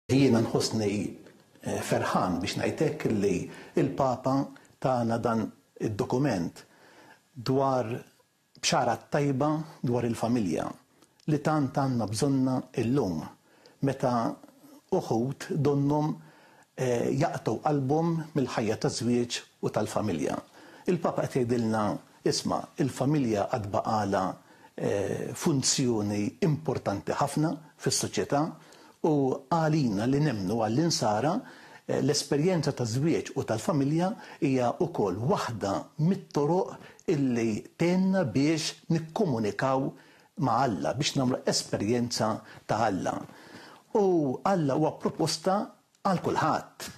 Jiena nħossni ferħan biex ngħid hekk li l-Papa tana dan id-dokument dwar bxara t-tajba dwar il-familja li tant għandna bżonnha llum meta uħud donnhom jaqtgħu qalbhom mill-ħajja taż-żwieġ u tal-familja. Il-Papa qed jgħidilna, isma', il-familja għad baqgħalha funzjoni importanti ħafna fis-soċjetà U għalina li nemmnu għall-Insara, l-esperjenza taż-żwieġ u tal-familja hija wkoll waħda mit-toroq illi tgħinna biex nikkomunikaw ma' Alla, biex nagħmlu esperjenza ta' Alla. U Alla huwa proposta għal kulħadd.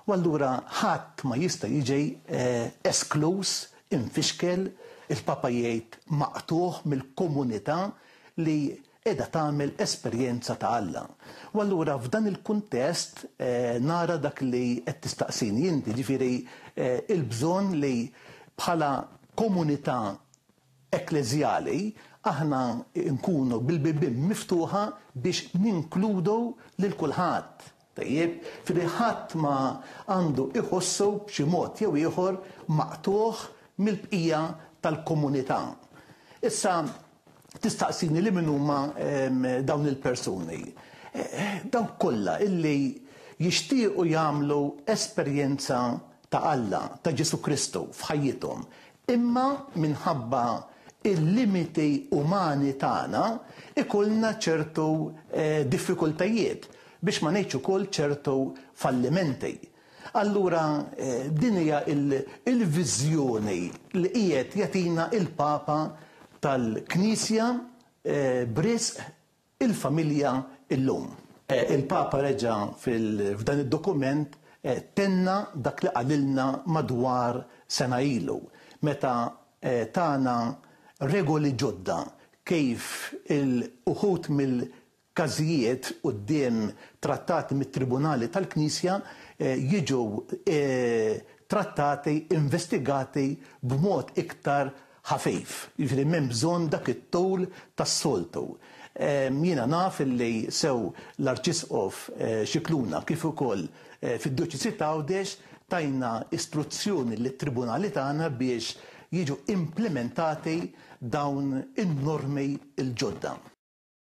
U allura ħadd ma jista' jiġi eskluż, imfixkel, il-Papa jgħid maqtugħ mill-komunità li qiegħda tagħmel esperjenza ta' Alla. U allura f'dan il-kuntest nara dak li qed tistaqsini inti, jiġifieri l-bżonn li bħala komunità ekkleżjali aħna nkunu bil-bibien miftuħa biex ninkludu lil kulħadd. Tajjeb, f'idejh ħadd ma għandu iħossu b'xi mod jew ieħor maqtugħ mill-bqija tal-komunità. Issa, tistaqsini li min huma dawn il-persuni? Dawk kollha illi jixtiequ jagħmlu esperjenza ta' Alla, ta' Ġesù Kristu f'ħajjithom, imma minħabba l-limiti umani tagħna jkollna ċertu diffikultajiet. biex ma ngħidx ukoll ċertu fallimenti. Allura din hija l-viżjoni li qiegħed jagħtina l-Papa tal-Knisja b'risq il-familja llum. Il-Papa reġa' f'dan id-dokument tenna dak li qalilna madwar sena ilu meta tana regoli ġodda kif uħud mill każijiet quddiem trattati mit-tribunali tal-Knisja jiġu trattati, investigati b'mod iktar ħafif. Jiġifieri m'hemm bżonn dak it-tul tas-soltu. Jiena naf li sew l-Arċisqof Scicluna kif ukoll fid-Djoċesi t'Għawdex tajna istruzzjoni lit-tribunali tagħna biex jiġu implimentati dawn in-normi l-ġodda.